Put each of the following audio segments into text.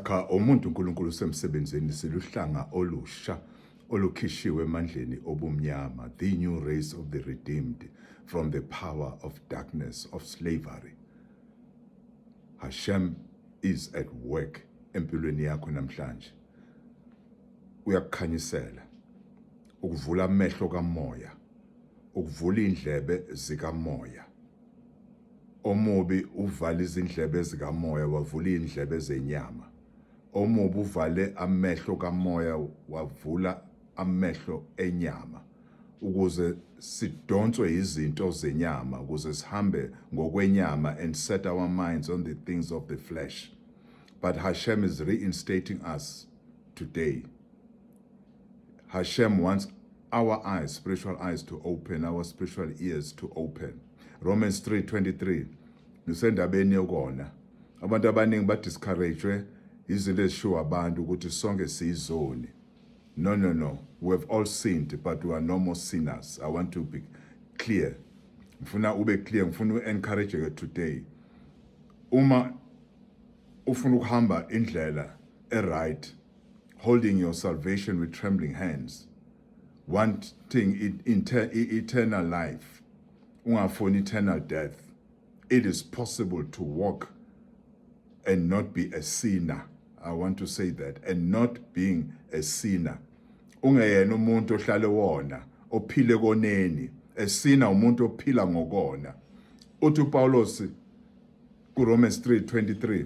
Cha umuntu uNkulunkulu usemsebenzini siluhlanga olusha olukhishiwe emandleni obumnyama the new race of the redeemed from the power of darkness of slavery Hashem is at work empilweni yakho namhlanje uyakukhanyisela ukuvula amehlo kamoya ukuvula indlebe zikamoya Omubi uvala izindlebe zikamoya wavula izindlebe zenyama. Omubi uvale amehlo kamoya wavula amehlo enyama ukuze sidonswe izinto zenyama ukuze sihambe ngokwenyama and set our minds on the things of the flesh. But Hashem is reinstating us today. Hashem wants our eyes, spiritual eyes to open, our spiritual ears to open. Romans 3:23 ngisendabeni yokona abantu abaningi ba discouraged izinto ezishiwo abantu ukuthi sonke siyizoni no no no we have all sinned but we are no more sinners i want to be clear ngifuna ube clear ngifuna u encourage ke today uma ufuna ukuhamba indlela e right holding your salvation with trembling hands wanting eternal life ungafuni eternal death it is possible to walk and not be a sinner i want to say that and not being a sinner ungeyena umuntu ohlale wona ophile koneni esina umuntu ophila ngokona uthi uPaulos kuRomans 3:23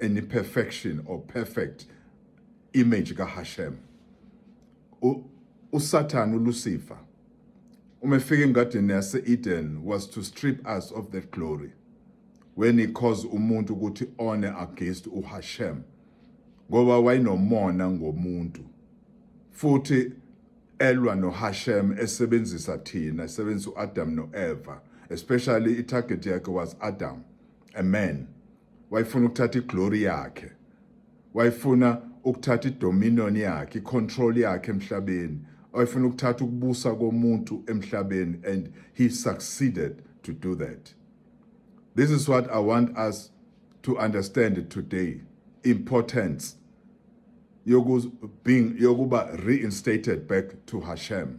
any perfection or perfect image kaHashem uSatan uLucifer uma efika engadini yase-Eden was to strip us of that glory when he caused umuntu ukuthi one against uHashem ngoba wayenomona ngomuntu futhi elwa noHashem esebenzisa thina esebenzisa uAdam noEva especially itarget yakhe was Adam amen wayefuna ukuthatha iglory yakhe wayefuna ukuthatha idominion yakhe icontrol yakhe emhlabeni wayefuna ukuthatha ukubusa komuntu emhlabeni and he succeeded to do that this is what i want us to understand today importance yokuba reinstated back to hashem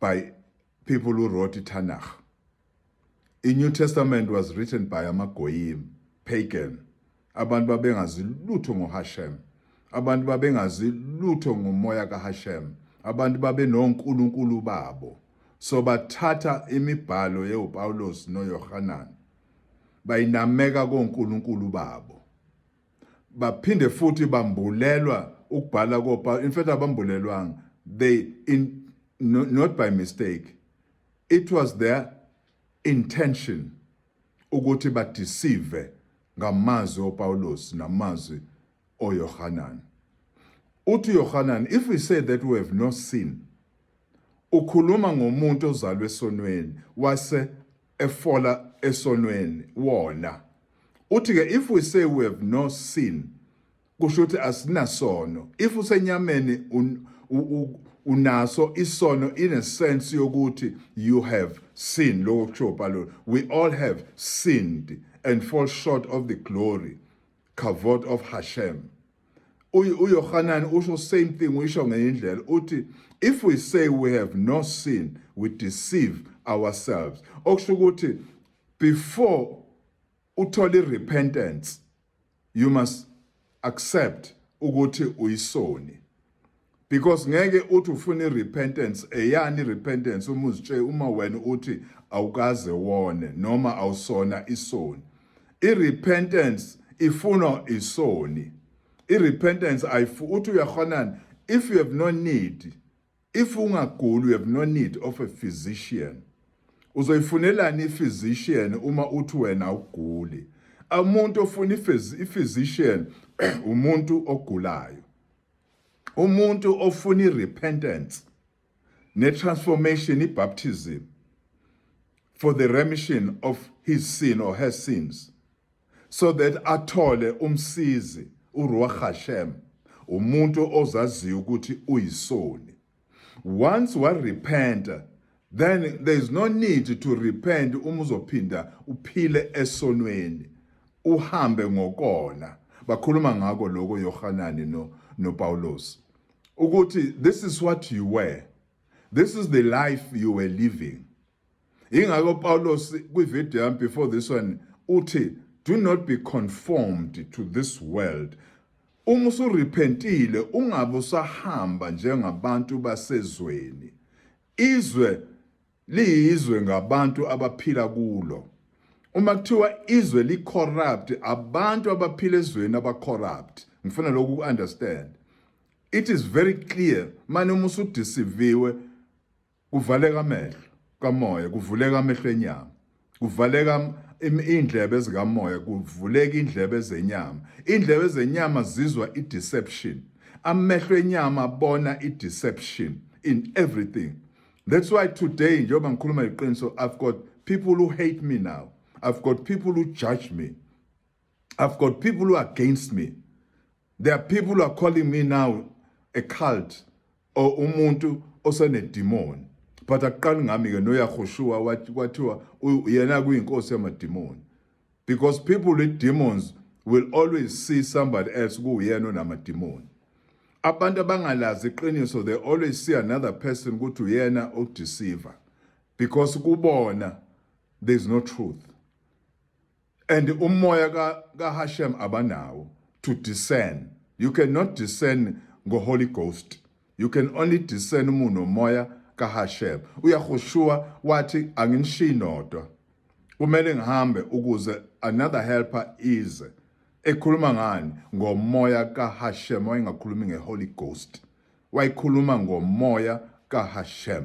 by people who wrote iTanakh. The New Testament was written by amagoyim, pagan. Abantu babengazi lutho ngoHashem. Abantu babengazi lutho ngomoya kaHashem. Abantu babenonkulunkulu babo. So bathatha imibhalo yeUPawulos noYohanan bayinameka konkulunkulu babo. baphinde futhi bambulelwa ukubhala kopa in fact abambulelwanga they in, no, not by mistake it was their intention ukuthi badeceive ngamazwi oPawulos namazwi oYohanan uthi Yohanan if we say that we have no sin ukhuluma ngomuntu ozalwe esonweni wase efola esonweni wona uthi ke if we say we have no sin kusho ukuthi asinasono if usenyameni unaso isono in a sense yokuthi you have sin lokho kusho ubhalo we all have sinned and fall short of the glory kavod of hashem uyohanani usho same thing uyisho ngenye indlela uthi if we say we have no sin we deceive ourselves okusho ukuthi before uthole irepentance you must accept ukuthi uyisoni because ngeke uthi ufuna irepentance eyani irepentance uma uzitshe uma wena uthi awukaze wone noma awusona isoni irepentance ifunwa isoni irepentance ayifu uthi uyakhonana if you have no need if ungaguli you have no need of a physician uzoyifunelani iphysician uma uthi wena awuguli umuntu ofuna iphysician umuntu ogulayo umuntu ofuna irepentance netransformation ibaptism for the remission of his sin or her sins so that athole umsizi uruach hashem umuntu ozaziyo ukuthi uyisoni once wa repenta then there is no need to repent uma uzophinda uphile esonweni uhambe ngokona bakhuluma ngako lokho Yohanani no no Paulos ukuthi this is what you were this is the life you were living Ingakho Paulos kwivideo yami before this one uthi do not be conformed to this world. Uma usurepentile ungabe usahamba njengabantu basezweni. Izwe liyizwe ngabantu abaphila kulo. Uma kuthiwa izwe li corrupt abantu abaphila ezweni aba corrupt. Ngifuna lokhu ku understand. It is very clear manje uma usudisiviwe Kuvaleka amehlo kamoya, kuvuleka amehlo enyama, kuvaleka indlebe zikamoya, kuvuleka indlebe zenyama. Indlebe zenyama zizwa i-deception. Amehlo enyama abona i-deception in everything. That's why today njengoba ngikhuluma iqiniso I've got people who hate me now. I've got people who judge me. I've got people who are against me. There are people who are calling me now a cult or umuntu osenedimoni. But akuqali ngami ke noyahoshua kwathiwa yena kuyinkosi yamadimoni. Because people with demons will always see somebody else kuyena onamadimoni. Abantu abangalazi iqiniso they always see another person ukuthi uyena odeceiver because kubona there is no truth. and umoya kaHashem abanawo to discern you cannot discern ngoHoly Ghost you can only discern umuntu nomoya kaHashem uyahushuwa wathi anginishiyi nodwa kumele ngihambe ukuze another helper ize ekhuluma ngani ngomoya kaHashem wayengakhulumi ngeHoly Ghost wayikhuluma ngomoya kaHashem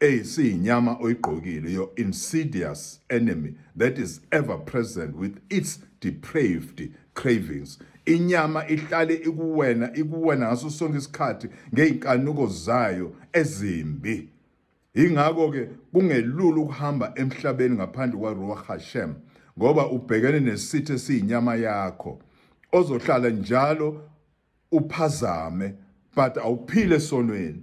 Ey siyinyama oyigqokile your insidious enemy that is ever present with its depraved cravings inyama ihlale ikuwena ikuwena ngaso sonke isikhathi ngeyinkanuko zayo ezimbi ingakho ke kungelula ukuhamba emhlabeni ngaphandle kwaRuach Hashem ngoba ubhekene nesithe siyinyama yakho ozohlala njalo uphazame but awuphile sonweni